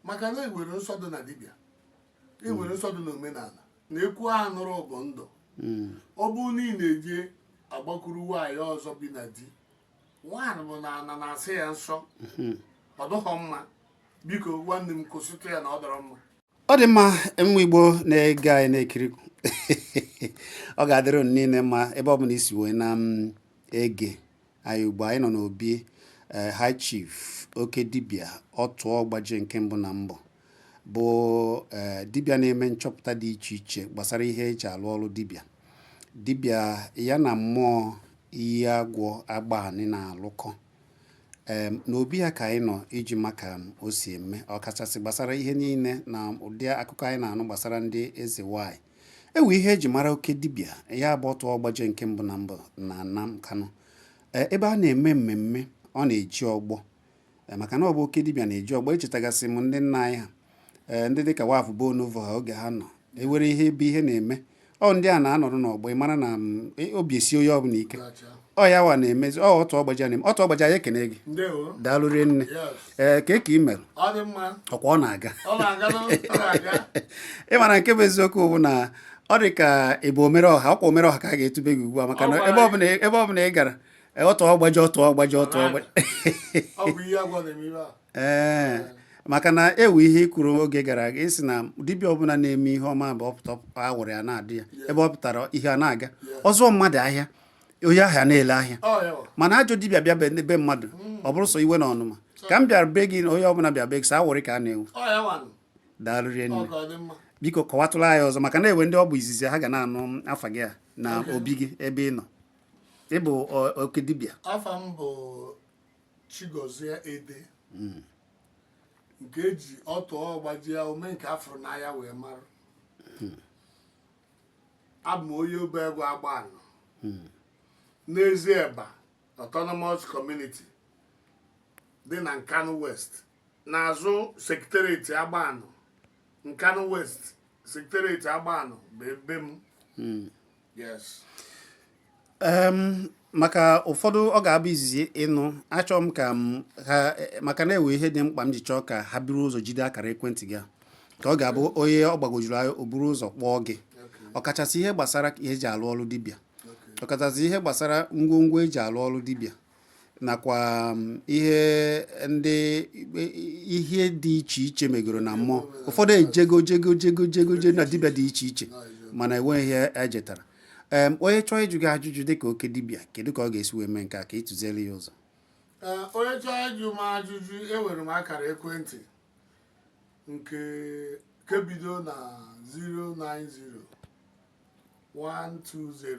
maka na ewere nsọ dị na dibịa ewere nsọ dị n'omenala na-ekwu a nụrụ bụ ndụ hmm. ọ bụ na ị na-eje agbakuru nwaanyị ọzọ bi na di nwaanyị bụ na ana na-asị ya nsọ hmm. ọ dụghọ mma biko nwanne m kwụsịtụ ya na ọ dụrọ mma ọ dị mma nwa igbo na-ege anyị na-ekiri ọ ga-adịrị unu niile mma ebe ọ bụla i si wee na mm, ege anyị ugbu a anyị nọ n'obi eh, high chief oke dibịa Otuọgbajie nke mbụ na mbụ bụ eh, dibịa na-eme nchọpụta dị iche iche gbasara ihe eji alụ ọrụ dibịa dibịa ya na mmụọ iyi agwọ Agbanị na-alụkọ em n'obi ya ka anyị nọ iji ma ka o si eme ọkachasị gbasara ihe niile na ụdị akụkọ anyị na-anụ gbasara ndị eze nwanyị ewe ihe eji mara oke dibịa ya bụ Otuọgbajie nke mbụ na mbụ na ana Nkanu e, ebe a na-eme mmemme ọ na-eje ọgbọ e, maka na ọ bụ oke dibịa na-eje ọgbọ echetagasị m ndị nna anyị ha ee eh, ndị dịka waf bụ onovo ha oge ha nọ ewere ihe ebe ihe na-eme ọ ndị a na-anọrọ n'ọgbọ ị mara na mm, e, obi esi onye ọbụla ike ọ ya wa na-emezi ọ Otuọgbajie na-eme Otuọgbajie anyị ekene gị daalụ rinne ee eh, kee ka ị mere ọkwa ọ na-aga ị mara nke bụ eziokwu bụ na ọ dị ka ị bụ omere ọha ọkwa omere ọha ka a ga-etube gị ugbu a maka na ebe ọbụla ị gara Otuọgbajie Otuọgbajie Otuọgbajie ee maka na ewe ihe i kwuru oge gara aga ị sị na dibịa ọbụla na-eme ihe ọma bụ ọ pụta awụrị ya na-adị ya ebe ọ pụtara ihe a na-aga ọzọ mmadụ ahịa onye ahịa na-ele ahịa oh, mana ajọ dibịa bịa be mmadụ hmm. ọ bụrụ sọ iwe na ọnụma ka m bịara be gị na onye ọbụla bịa be gị sọ awụrị ka a na-ewe oh, daalụ rinne biko kọwatụla anyị ọzọ maka na ewe ndị ọ bụ izizi ha ga na-anụ afa gị a na obi gị ebe ị nọ ịbụ oke dibịa Chigozie Ede hmm. nke eji Otuọgbajie ome nke afụrụ n'anya wee mara hmm. abụ m onye obe egwu Agbanị hmm. n'ezi eba autonomous community dị na Nkanu West n'azụ secretariat Agbanị Nkanu West secretariat Agbanị bụ ebe m maka ụfọdụ ọ ga-abụ izizi ịnụ achọọ m ka ha maka na ewe ihe dị mkpa m ji chọọ ka ha buru ụzọ jide akara ekwentị gị ka ọ ga-abụ onye ọ gbagwojuru anya o buru ụzọ kpọọ gị ọkachasị ihe gbasara ihe eji alụ ọrụ dibịa ọkachasị ihe gbasara ngwongwo eji alụ ọrụ dibịa nakwa um, ihe ndị ihe dị iche iche megoro na mmụọ ụfọdụ ejego jego jego jego je na dibịa dị iche iche mana enweghị ihe ejetara em onye chọọ ịjụ gị ajụjụ dịka oke dibịa kedu ka ọ ga-esi wee mee nke a ka ị tụziere ya ụzọ Ee, onye chọọ ịjụ m ajụjụ enwere m akara ekwentị nke nke bido na 090 120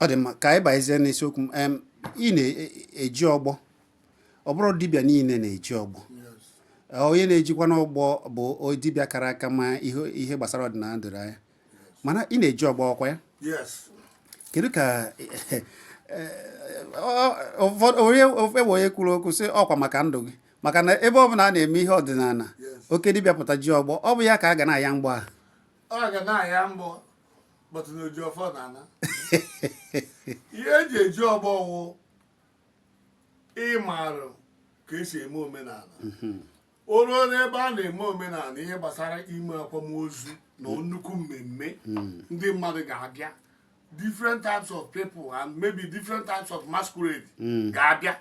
ọ dị mma ka anyị bazie n'isiokwu m ị na-eji ọgbọ ọ bụrọ dibịa niile na-eji ọgbọ onye na-ejikwanụ ọgbọ bụ dibịa kara aka ma ihe gbasara ọdịnala doro anya mana ị na-eji ọgbọ ọkwa ya kedu ka onye ewe onye kwuru okwu sị ọkwa maka ndụ gị maka na ebe ọ bụla a na-eme ihe ọdịnala oke dibịa pụta ji ọgbọ ọ bụ ya ka a ga na-aya mgbọ ahụ ọ ga na-aya mgbọ but na oji ọfọ na-ana ihe eji eji ọgbọ wụ ịmarụ ka esi eme omenala mhm. o ruo n'ebe a na-eme omenala ihe gbasara ime akwamozu na mm. nnukwu mmemme mm. ndị mmadụ ga-abịa different types of people and maybe different types of masquerade mm. ga-abịa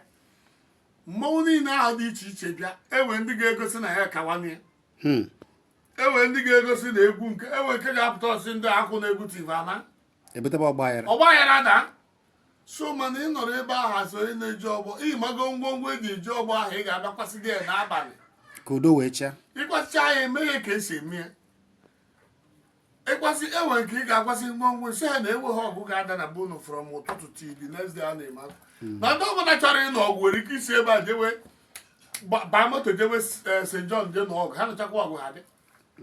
mmanwụ niile ahụ dị iche iche bịa enwe ndị ga-egosi na ya kawanye ya Hmm. enwe ndị ga-egosi na egwu nke enwe nke ga-apụta ọ sị ndị akwụ na-egwu tivana ebutebe ọgba aghara ọgba aghara daa so mana ị nọrọ ebe ahụ as onye na-eji ọgbọ ị mago ngwongwo eji eji ọgbọ ahụ ị ga-abịa kwasị ya n'abalị ka udo wee chịa ịkwasịcha ya eme ya ka esi eme ya ịkwasị enwe nke ị ga-akwasị ngwongwo si ha na enweghị ọgụ ga-ada na be unu from ụtụtụ till the next day a na-eme akwa. na ndị ọbụla chọrọ ịnụ ọgụ nwere ike isi ebe a jewe gba- baa moto jewe eh, St. John je nụ ọgụ ha nụchakwa ọgụ ha dị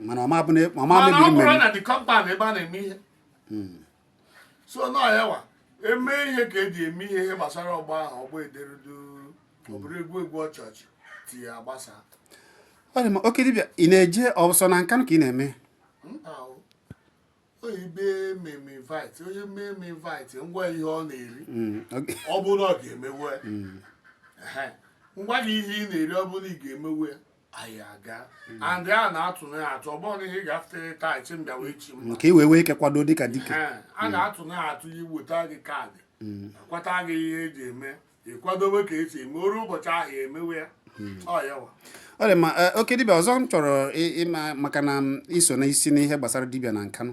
mana ọma bụ na ọma mana ọ mebiri bụrụ mmeri na the compound ebe a na-eme ihe so nọ ya wa eme ihe ka eji eme ihe ihe gbasara ọgbọ ahụ ọgbọ edere duu ọ bụrụ egwu egwu ọchị ọchị tinye agbasa ọ dị mma oke dibịa ị na-eje ọsọ na Nkanụ ka ị na-eme ebe mee m invite onye mee m invite m gwa ya ihe ọ na-eri mm, ọ bụrụ ọ ga-emewe mm. m gwa gị ihe ị na-eri ọ bụrụ ị ga-emewe anyị aga mm. and a na-atụ na atụ ọ bụrọ na ihe ga-afụta taa ị sị m bịawa echi mba ka i wee nwee ike kwado dịka dike a na-atụ na atụ iweta gị card kwata gị ihe eji eme ịkwadobe ka esi eme o ru ụbọchị ahụ ya emewe ya hmm. ọ ya wa ọ dị mma eh, oke dibịa ọzọ m chọrọ ịma maka na iso na isi n'ihe gbasara dibịa na Nkanụ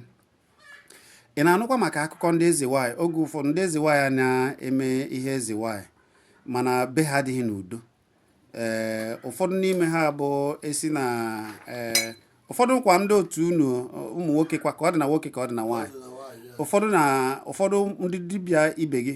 ị na-anụkwa maka akụkọ ndị eze nwaanyị oge ụfọdụ ndị eze nwaanyị na-eme ihe eze nwaanyị mana be ha adịghị n'udo ee eh, ụfọdụ n'ime ha bụ a sị na ee eh, ụfọdụ kwa ndị otu unu ụmụ nwoke kwa ka ọ dị na nwoke ka ọ dị na nwaanyị ụfọdụ na ụfọdụ ndị dibịa ibe gị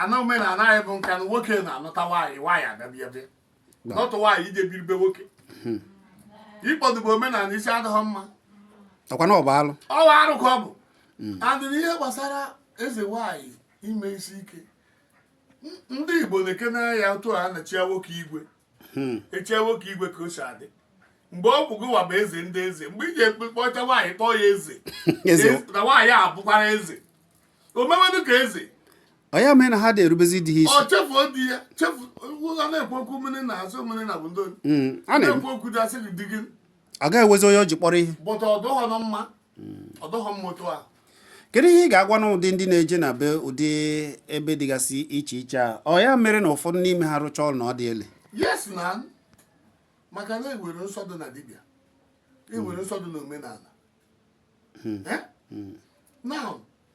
ana omenala anyị bụ Nkanụ nwoke na-anụta nwaanyị nwaanyị abịabiabịa nụta nwaanyị ije biri be nwoke hmm. ịkpọdobe omenala isi adịghị mma ọkwa na ọ bụ alụ ọ bụ arụ ka ọ bụ hmm. adịghị ihe gbasara eze nwaanyị ime isi ike ndị Igbo na-ekene ya otu a na-echi nwoke igwe hmm. echie nwoke igwe ka o si adị mgbe ọ bụ gụwa bụ eze ndị eze mgbe iji ekpekpọcha nwaanyị kpọọ ya eze na nwaanyị a bụkwara eze o mewedụ ka eze ọ ya mee na ha adị erubezi di ha isi ọ chefuo di ya chefu a na-ekwu okwu mmiri na azụ mmiri na bụ ndị hmm, na-ekwu okwu di asị gị di gị agaghị ewezi onye o ji kpọrọ ihe but ọ dụghọnụ mma ọ dụghọ mma otu a kedu ihe ị ga-agwanụ ụdị ndị na-eje na be ụdị ebe dịgasị iche iche a ọ ya mere na ụfọdụ n'ime ha rụcha ọrụ na ọ dị ele yes na maka na ewere nsọ dị na dibịa ewere nsọ dị na omenala hmm. Eh? Hmm. na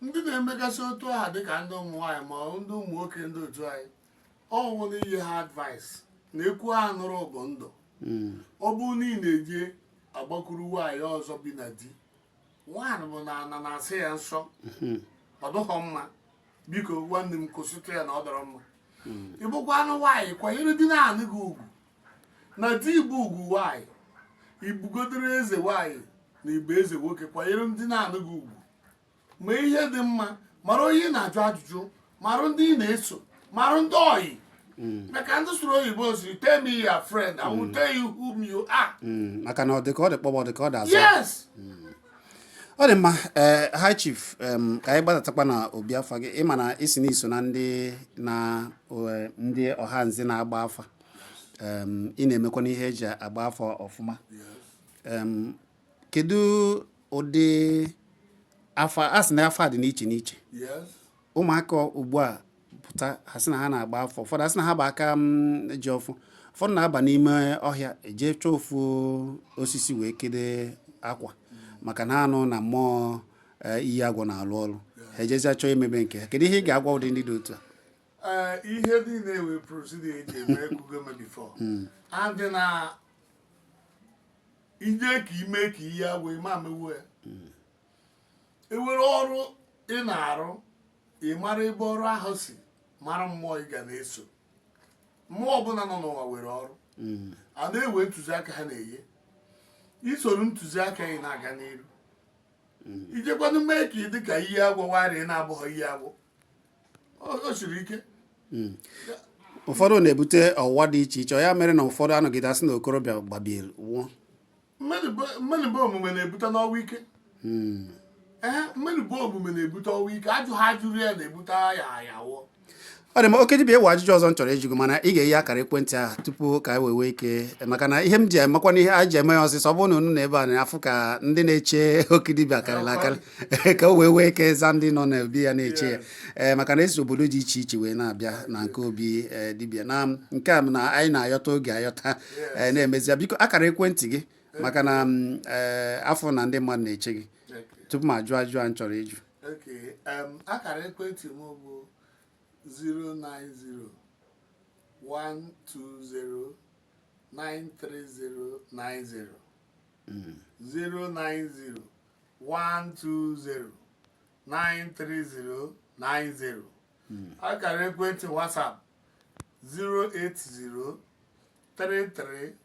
ndị na-emegasị otu aha dịka ndị ụmụ nwaanyị ma ndị ụmụ nwoke ndị otu anyị ọ bụ na inye ha advice na ekwu ha nụrụ bụ ndụ hmm. ọ bụ na ị na-eje agbakuru nwaanyị ọzọ bi na di nwaanyị bụ na ana na-asị ya nsọ hmm. ọ dụghọ mma biko nwanne m kwụsịtụ ya na ọ dọrọ mma hmm. ị bụkwanụ nwaanyị kwanyere di na-anụ gị ugwu na di bụ ugwu nwaanyị ị bụgodoro eze nwaanyị na ị bụ eze nwoke kwanyere di na-anụ gị ugwu ma ihe dị mma mara onye ị na-ajụ ajụjụ mara ndị ị na-eso mara ndị oyi hmm. maka ndị sụrụ oyibo sị tell me your friend I will hmm. tell you whom you are. Hmm. maka na ọ dị ka ọ dị kpọgbọ dị ka ọ dị azụ. yes. ọ dị mma ee eh, high chief ka anyị gbadatakwa na obi afa gị ịma na isi na iso na ndị na eh, ndị ọha nzi na-agba afa ị na-emekwa n'ihe eji agba afa ọfụma kedu ụdị afa a sị na afa dị n'iche n'iche ụmụaka ugbu a pụta ha sị na ha na-agba afa ụfọdụ asị na ha bụ aka mm, ji ọfọ ụfọdụ na-aba n'ime ọhịa eje chọọ ofu osisi wee kede akwa maka na anụ na mmụọ eh, iyi agwụ na-alụ ọrụ ha ejezia chọọ emebe nke ha kedu ihe ị ga-agwa ụdị ndị dị otu a eh, ihe niile were procedure eji eme ekwugo m ya before adị na ije ka ime ka ihe agwụ ịma mewo ya hmm. ewere ọrụ ị na-arụ ị mara ebe ọrụ ahụ si mara mmụọ ị ga na-eso mmụọ ọbụla nọ n'ụwa were ọrụ hmm. a na-ewe ntụziaka ha na-enye isoro ntụziaka ị na-aga n'iru mm. ijekwanụ mee ka ị dị ka ihe agwụ warị na-abụghị ihe agwụ o siri ike mm. ụfọdụ na-ebute ọwụwa dị iche iche ya mere na ụfọdụ anọgide asị na okorobịa gbabiere nwụọ mana ọ bụ omume na-ebute n'ọnwụ ike mm. ee mana ọ bụ omume na-ebute ọnwụ ike ajụ ha jụrụ ya na-ebute ya ya wụọ ọ dị mma oke dibịa e nwe ajụjụ ọzọ m chọrọ ịjụ mana ị ga-enye akara ekwentị ahụ tupu ka anyị e wee ike maka na ihe m ji emakwa na ihe a ji eme ya ọsịsọ ọ bụrụ na unu na ebe a na-afụ ka ndị na-eche oke dibịa karịrị akarị ka o wee nwee ike za ndị nọ n'obi ya na-eche ya ee eh, maka na esi obodo dị iche iche wee na-abịa na nke obi eh, dibịa na nke a na anyị na-ayọta oge ayọta eh, na-enyezi biko akara ekwentị gị maka na mm, afụ na ndị mmadụ na-eche gị tupu m ajụ ajụ a m chọrọ ịjụ Okay, um, akara ekwentị m bụ 090-120-93090 090-120-93090 akara ekwentị WhatsApp 080-33-13-13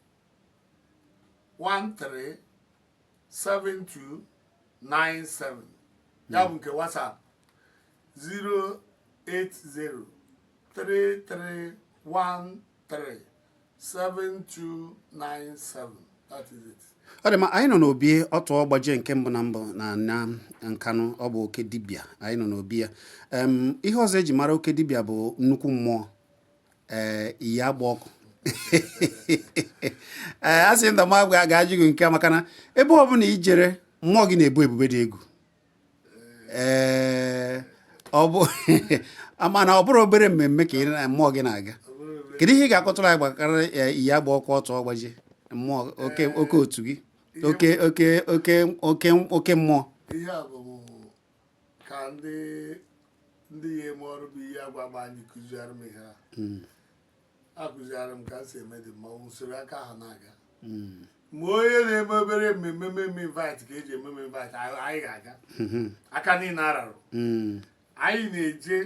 7297 ya bụ nke WhatsApp 08033137297 that is it. ọ dị mma anyị nọ n'obi ọtụọ ọgbajie nke mbụ na mbụ na na nkanụ ọ bụ oke dibịa anyị nọ n'obi ya Em, ihe ọzọ eji mara oke dibịa bụ nnukwu mmụọ ee eh, iyi agba ọkụ ee eh, a sị na m ga-ajụ gị nke a maka na ebe ọ bụla ijere mmụọ gị na-abụ ebube dị egwu ee eh, ọ bụ mana ọ bụrụ obere mmemme ka mmụọ gị na-aga kedu ihe ị ga-akọtụrụ anyị gbasara iyi agba ọkụ ọtụọ ọgbajie mmụọ oke otu gị oke oke oke oke oke mmụọ ka ndị ndị ya eme ọrụ bụ ihe agwa gba anyị kụziara m ihe a hmm. akụziara m ka m si eme dị mmanwụ usoro aka ahụ na-aga hmm. ma onye na-eme obere mmemme mmemme invite ka eji ememe invite anyị ga-aga hmm. aka niile ararụ anyị na-eje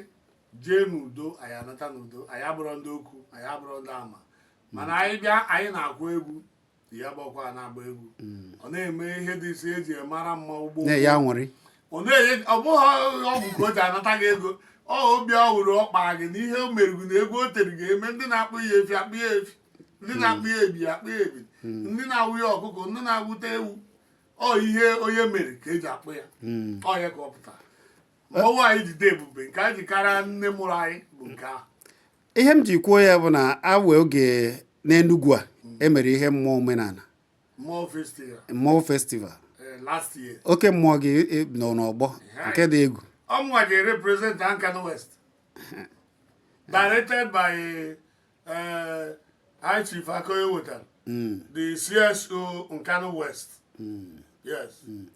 jee n'udo anyị anata n'udo anyị abụrọ ndị okwu anyị abụrọ ndị ama mana anyị bịa anyị na-akụ egwu ya gbakwa na-agba egwu hmm. ọ na-eme ihe dị isi eji mara mmanwụ gboo ya nwere ọ bụghị ọgwụ ka o ji anata gị ego ọ obi ọ hụrụ ọ kpara gị n'ihe o meriri na egwu o tere ga-eme ndị na-akpụ ya efi akpụ ya efi ndị na-akpụ ya ebi akpụ ya ebi hmm. ndị na-awụ ya ọkụkọ ndị na-awụta ewu ọ ihe onye mere ka eji akpọ ya hmm. ọ ya ka ọ pụtara ọnwa anyị jide ebube nke anyị ji karịa nne mụrụ anyị bụ nke ahụ ihe m ji kwuo ya bụ na awe oge n'Enugwu a emere ihe mmụọ omenala mmụọ festival last year oke mmụọ gị e, nọ n'ọgbọ nke dị egwu ọ mụnwa ji represent Nkanu West directed by eh, High Chief Akoye Wotan, mm. the CSO Nkanu West. Mm. Yes. Mm.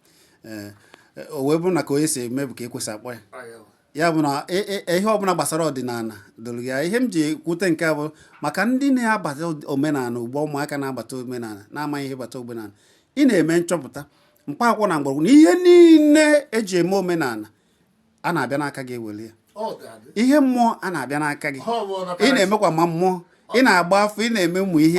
Eh, eh, o wee bụrụ na ka onye si eme bụ ka ekwesị akpọ ya ya bụ na e, e, e, ihe ọbụla gbasara ọdịnala doro ya ihe m ji kwute nke a bụ maka ndị na-abata omenala ugbo ụmụaka na-abata omenala na-amaghị ihe bata omenala ị na-eme nchọpụta mkpaakwụkwọ na mgbọrọgwụ na ihe niile eji eme omenala a na-abịa n'aka gị ewere ya ihe mmụọ a na-abịa n'aka gị ị na-emekwa ma mmụọ ị na-agba afa ị na-eme ụmụ ihe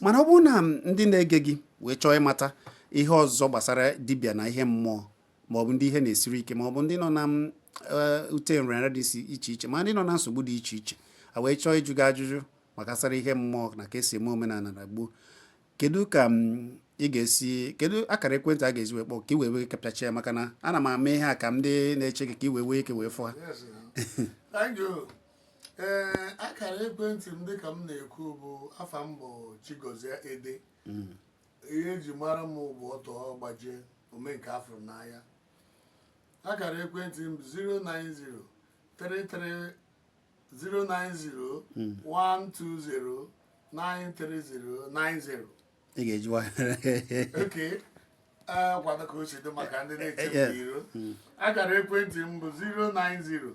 mana ọ bụrụ na ndị na-ege gị wee chọọ ịmata ihe ọzọ gbasara dibịa na ihe mmụọ maọbụ ndị ihe na-esiri ike maọbụ ndị nọ na eh, ụdị nrịanrịa dị iche iche ma ndị nọ na nsogbu dị iche iche a wee chọọ ịjụ gị ajụjụ maka gbasara ihe mmụọ na ka esi eme omenala na gboo kedu ka ị ga-esi kedu akara ekwentị a ga-eji wee kpọọ ka i wee wee kapịacha ya maka na ana m ama ihe a ka ndị na-eche gị ka i wee wee ike wee fụ ha ee akara ekwentị m dịka m na-ekwu bụ afa m bụ Chigozie Ede ihe eji mara m bụ Ọtụọgbajie Omenkeafụrụ n'anya akara ekwentị m bụ 090 33 090 120 93090 ị ga-eji nwayọọ okay kwado ka o si dị maka ndị na-eche m n'iro akara ekwentị m bụ 090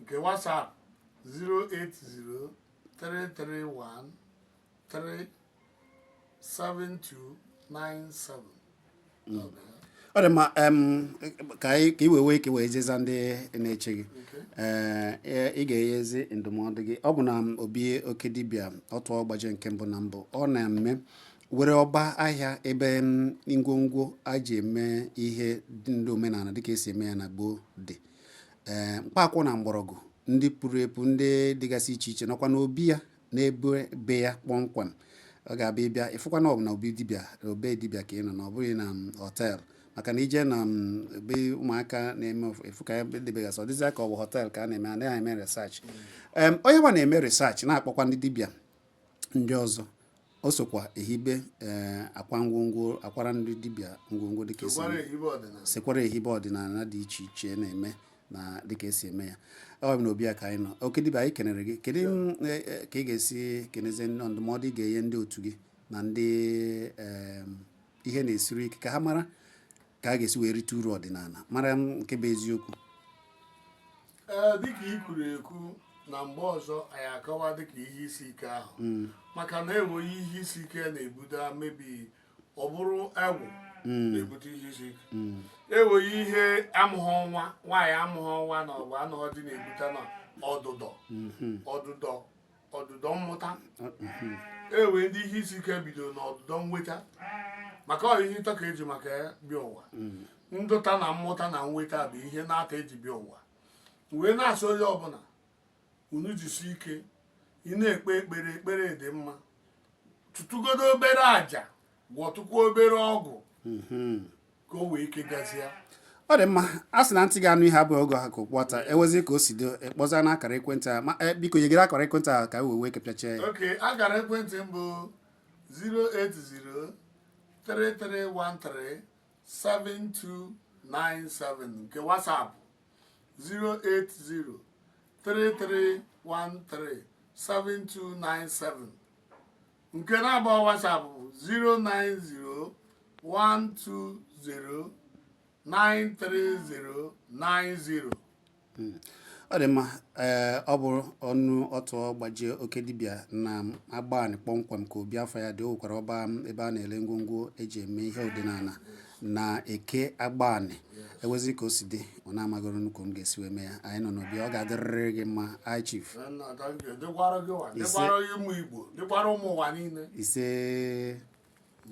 nke WhatsApp 08033137297 ọ dị mma em, ka anyị ka i wee wee ka i wee jee zaa ndị na-eche gị Ee, e- ị ga-enyezi ndụmọdụ gị ọ bụ na m, obi oke dibịa Ọtụọgbajie nke mbụ na mbụ ọ na m nwere ọba ahịa ebe m, ngwongwo a ji eme ihe ndị omenala dịka esi eme ya na gboo dị ee mkpaakwụkwọ na mgbọrọgwụ ndị puru epu ndị dịgasị iche iche nọkwa n'obi ya n'ebe be ya kpọmkwem ọ ga-abụ ị bịa ị fụkwa na ọ bụ na obi dibịa ọ be dibịa ka ị nọ na ọ bụghị na hotel maka na i je na be ụmụaka na-eme ị fụ ka e debegasị ọ dịzịa ka ọ bụ hotel ka a na-eme anaghị eme research onye nwa na-eme research na-akpọkwa ndị dibịa ndị ọzọ o sokwa ehibe ee eh, akwa ngwongwo akwara ndị dibịa ngwongwo dịka esi sekwara ehibe ọdịnala dị iche iche na-eme na dịka esi eme ya ọ bụ na obi ya ka anyị nọ oke dibịa anyị kenere gị kedu eh, eh, ka ị ga-esi kenezie ndụmọdụ ị ga-enye ndị otu gị na ndị ihe na-esiri ike ka ha mara ka a ga-esi wee rite uru ọdịnala mara nke bụ eziokwu ee dịka i kwuru ekwu na mgbe ọzọ anyị akọwa dịka ihe isi ike ahụ hmm. maka na enweghị ihe isi ike na-ebute maybe ọ bụrụ agwụ hmm. na-ebute ihe isi ike hmm. enweghị ihe amụghị nwa nwaanyị amụghị nwa na ọ bụ anụghọ di na-ebute na ọdụdọ ọdụdọ ọdụdọ mmụta e nwee ndị ihe isi ike bido n'ọdụdọ nweta maka ọ ihe ịtọ ka eji maka ya bịa ụwa mm. nlụta na mmụta na nweta bụ ihe n'atọ eji bịa ụwa wee na-asị onye ọbụla unu jisi ike ị na-ekpe ekpere ekpere dị mma tụtụgodo obere aja gwọtụkwa obere ọgwụ mhm. ka o wee ike gazie ọ dị mma a sị na ntị ga-anụ ihe abụghị ọ ga-aha ka okpu ata ewezi ka o si dị a kpọzie na akara ekwentị a ma eh, biko nyegodi akara ekwentị a ka e wee wee kepịacha ya okay akara ekwentị m bụ 08033137297 nke WhatsApp 08033137297 nke na-agba WhatsApp bụ 09012093090 hmm. ọ dị mma ee ọ bụ ọnụ ọtụ gbajie oke dibịa na agbanị kpọmkwem ka obi afa ya dị o nwekwara ọba ebe a na-ele ngwongwo eji eme ihe ọdịnala na eke agbanị ewezi ka o si dị unu amagoro nnọọ ka unu ga-esi wee mee ya anyị nọ n'obi ya ọ ga-adịrịrị gị mma high chief dịkwara gị ụwa dịkwara ụmụ igbo dịkwara ụmụ ụwa niile ise